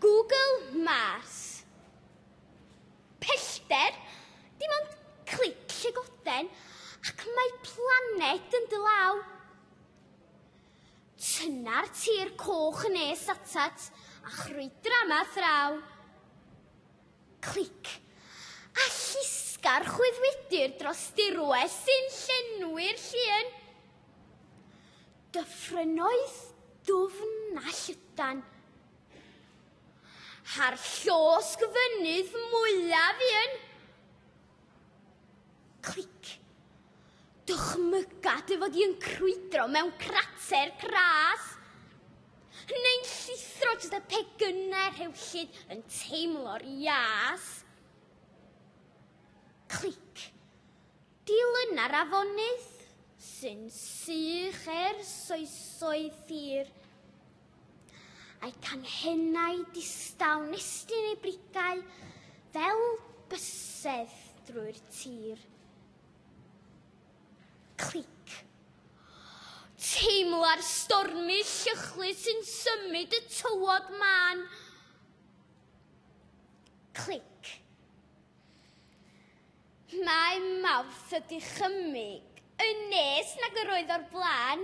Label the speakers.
Speaker 1: Google Mars. Pellter, dim ond clic llygoden ac mae planed yn dy law. Tyna'r tir coch yn nes atat a chrwydra ma thraw. Clic a llusgar chwyddwidir dros dirwedd sy'n llenwi'r llun. Dyffrynnoedd dwfn a llydan. Ha'r llosg fynydd mwyaf un. Clic. Dychmyga dy fod i'n crwydro mewn crater cras. Neu'n llithro dros y pecynnau rhewllyd yn teimlo'r ias. Clic. Dilyna'r afonydd sy'n sych er soesoedd ffyr, a'i canghennau distaw nestyn ei brigau fel bysedd drwy'r tir. Clic. Teimla'r stormy llychlyd sy'n symud y tywod man. Clic. Mae Mawrth y dychymyg yn nes nag yr oedd o'r blaen.